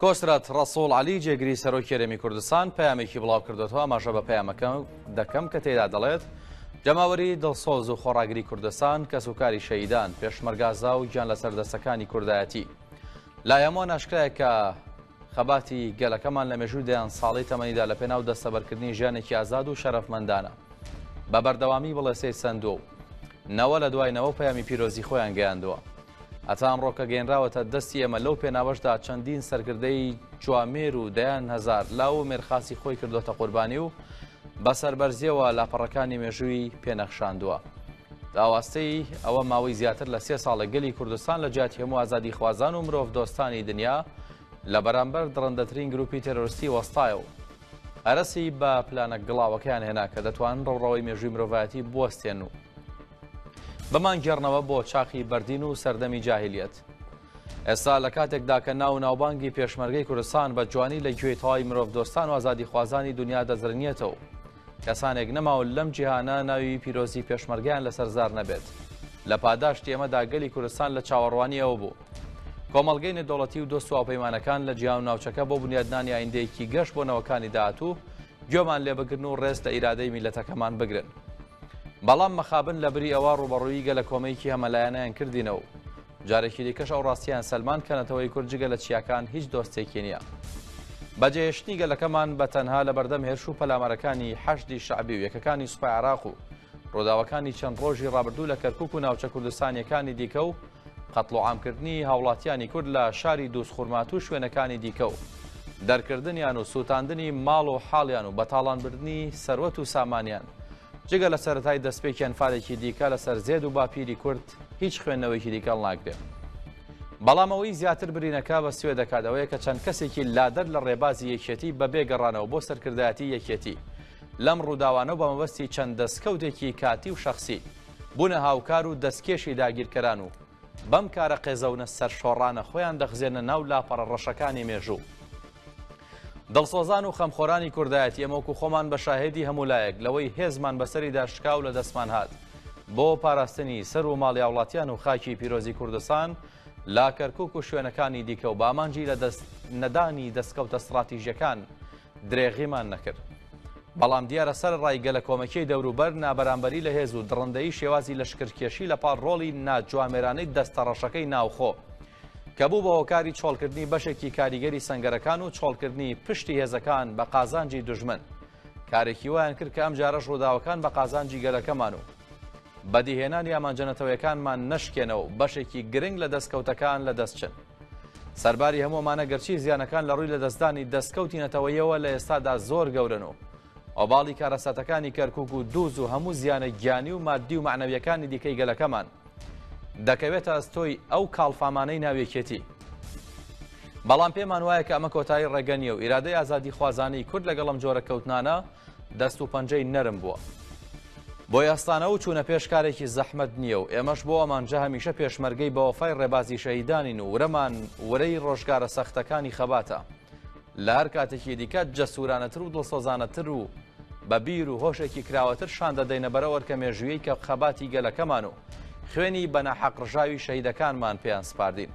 کۆسرەت ڕەسوڵ عەلی جێگری سەرۆکی هەرێمی کوردستان پەیامێکی بڵاوکردوەوە ئاماژە بە پەیامەکە دەکەم کە تێدا دەڵێت جەماوەری دڵسۆز و خۆڕاگری کوردستان کەس و کاری شەیدان پێشمەرگازا و گیان لەسەر دەستەکانی کوردایەتی لای هەمووان ئاشکرایە کە خەباتی گەلەکەمان لە مێژووی دەیان ساڵی تەمەنیدا لە پێناو دەستەبەرکردنی ژیانێکی ئازاد و شەرەفمەندانە بە بەردەوامی بڵێسەی سندووە و نەوە لە دوای نەوە پەیامی پیرۆزی خۆیان گەیاندووە هەتا ئەمڕۆکە گەێنراوەتە دەستی ئێمە لەو پێناوەشدا چەندین سەرکردەی جوامێر و دەیان هزار لاو و مێرخاسی خۆی کردوتە قوربانی و بە سەربەرزیەوە لاپەڕەکانی مێژووی پێنەخشاندووە. داواستەی ئەوە ماوەی زیاتر لە سێ ساڵە گەلی کوردستان لە جیاتی هەموو ئازادی خوازان و مرۆڤ دۆستانی دنیا لە بەرامبەر دڕندەترین گروپی تەرۆرستی وەستایە و هەرسی بە پلانە گڵاوەکەیان هێنا کە دەتوان ڕەوڕەوەی مێژووی مرۆڤایەتی بوەستێن و بمان گێڕنەوە بۆ چاخی بەردین و سەردەمی جاهلیت ئێستا لە کاتێکدا کە ناو ناوبانگی پێشمەرگەی کوردستان بە جوانی لە گوێی تەواوی مرۆڤ دۆستان و ئازادی خوازانی دنیا دەزرنیێتەوە کەسانێک نەماون لەم جیهانە ناوی پیرۆزی پێشمەرگیان لەسەر زار نەبێت لە پاداشتی ئێمەدا گەلی کوردستان لە چاوەڕوانی ئەوە بوو کۆمەلگەی نەدەوڵەتی و دۆست واپەیمانەکان لە جیان و ناوچەکە بۆ بنیادنانی ئایندەیەکی گەشت بۆ نەوەکانی داهاتوو گوێمان لێ بگرن و ڕێز لە ئیرادەی میلەتەکەمان بگرن بەڵام مەخابن لە بری ئەوە ڕووبەڕووی گەلە کۆمەیەکی هەمەلایەنەیان کردینە و جارێکی دیکەش ئەو ڕاستیان سەلمان کە نەتەوەی کورد جگە لە چیاکان هیچ دۆستێکی نییە. بەجێهێشتنی گەلەکەمان بە تەنها لە بەردەم هێرش و پەلامارەکانی حەشدی شەعبی و یەکەکانی سوپای عراق و ڕووداوەکانی چەند ڕۆژی ڕابردوو لە کەرکک و ناوچە کوردستانیەکانی دیکە و قەتڵوعامکردنی هاوڵاتیانی کورد لە شاری دوزخورماتوو شوێنەکانی دیکە و دەرکردنیان و سووتاندنی ماڵ و حاڵیان و بەتاڵانبردنی سەروەت و سامانیان جگە لە سەتای دەستپێکیان فالێکی دیکە لەسەر زێد و باپیری کورد هیچ خوێندنەوەیکی دیکەڵ ناگرێت. بەڵام ئەوەی زیاتر برینەکە بە سوێ دەکات ئەوەیە کە چەند کەسێکی لادەر لە ڕێبازی یەکێتی بە بێگەڕانەوە بۆ سەرکردایەتی یەکێتی لەم ڕووداوانە و بە مەبەستی چەند دەستکەوتێکی کاتی و شخصی بونە هاوکار و دەستکێشی داگیرکەران و بەم کارە قێزەونە سەرشۆڕانە خۆیان دەخزێنە ناو لاپەڕە ڕەشەکانی مێژوو. دڵسۆزان و خەمخۆرانی کوردایەتی ئێمە وەکو خۆمان بە شاهێدی هەموو لایەک لەوەی هێزمان بەسەریدا شکا و لە دەستمان هات بۆ پاراستنی سەر و ماڵی هاوڵاتیان و خاکی پیرۆزی کوردستان لا کەرکک و شوێنەکانی دیکە و بامانجی لە دەست نەدانی دەستکەوتە ستراتیژەکان درێغیمان نەکرد. بەڵام دیارە سەرەڕای گەلەکۆمەکیی دەوروبەر، نابەرامبەری لە هێز و دڕندەیی شێوازی لەشکرکێشی لەپاڵ ڕۆڵی ناجوامێرانەی دەستەڕەشەکەی ناوخۆ، کە بوو بە هۆکاری چۆڵکردنی بەشێکی کاریگەری سەنگەرەکان و چۆڵکردنی پشتی هێزەکان بە قازانجی دوژمن، کارێکی وایان کرد کە ئەمجارەش ڕووداوەکان بە قازانجی گەلەکەمان و بەدیهێنانی ئامانجە نەتەوەیەکانمان نەشکێنەوە و بەشێکی گرنگ لە دەستکەوتەکان لەدەست چن. سەرباری هەموو ئەمانە گەرچی زیانەکان لە ڕووی لەدەستدانی دەستکەوتی نەتەوەیەوە لە ئێستادا زۆر گەورەن و ئۆباڵی کارەساتەکانی کەرکک و دووز و هەموو زیانە گیانی و مادی و معنەویەکانی دیکەی گەلەکەمان دەکەوێتە ئەستۆی ئەو کاڵفامانەی ناوێکێتی بەڵام پێمان وایە کە ئەمە کۆتایی ڕێگە نیە و ئیرادەی ئازادی خوازانی کورد لەگەڵم جۆرە کەوتنانە دەست و پەنجەی نەرم بووە. بۆی ئەستانە و چوونە پێش کارێکی زەحمەت نییە و ئێمەش بۆ ئەمانجە هەمیشە پێشمەرگەی بەوەفای ڕێبازی شەهیدانین و ورەمان ورەی ڕۆژگارە سەختەکانی خەباتە لە هەر کاتێکی دیکە جەسورانەتر و دڵسۆزانەتر و بە بیر و هۆشێکی کراوەتر شان دەدەینە بەرە ئەرکە مێژوویی کە خەباتی گەلەکەمان و خوێنی بەناحەق ڕژاوی شەهیدەکانمان پێیان سپاردین.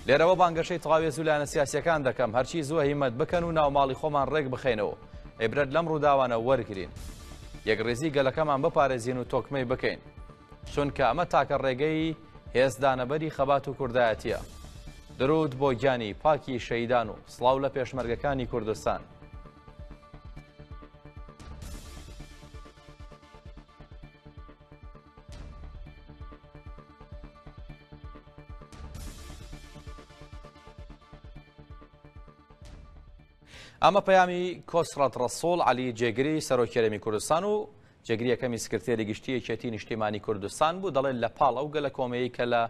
لێرەوە بانگەشەی تەواوێز و لایەنە سیاسیەکان دەکەم هەرچی زووە هیمەت بکەن و ناوماڵی خۆمان ڕێک بخەینەوە عیبرەت لەم ڕووداوانە وەرگرین. یەکڕیزی گەلەکەمان بپارێزین و تۆکمەی بکەین. چونکە ئەمە تاکە ڕێگەی هێزدانەبەری خەبات و کوردایەتیە. درود بۆ گیانی پاکی شەیدان و سڵاو لە پێشمەرگەکانی کوردستان. ئەمە پەیامی کۆسرەت ڕەسوڵ عەلی جێگری سەرۆکی هەرێمی کوردستان و جێگری یەکەمی سکرتێری گشتی یەکێتی نیشتیمانی کوردستان بوو دەڵێت لە پاڵ ئەو گەلە کۆمەیی کە لە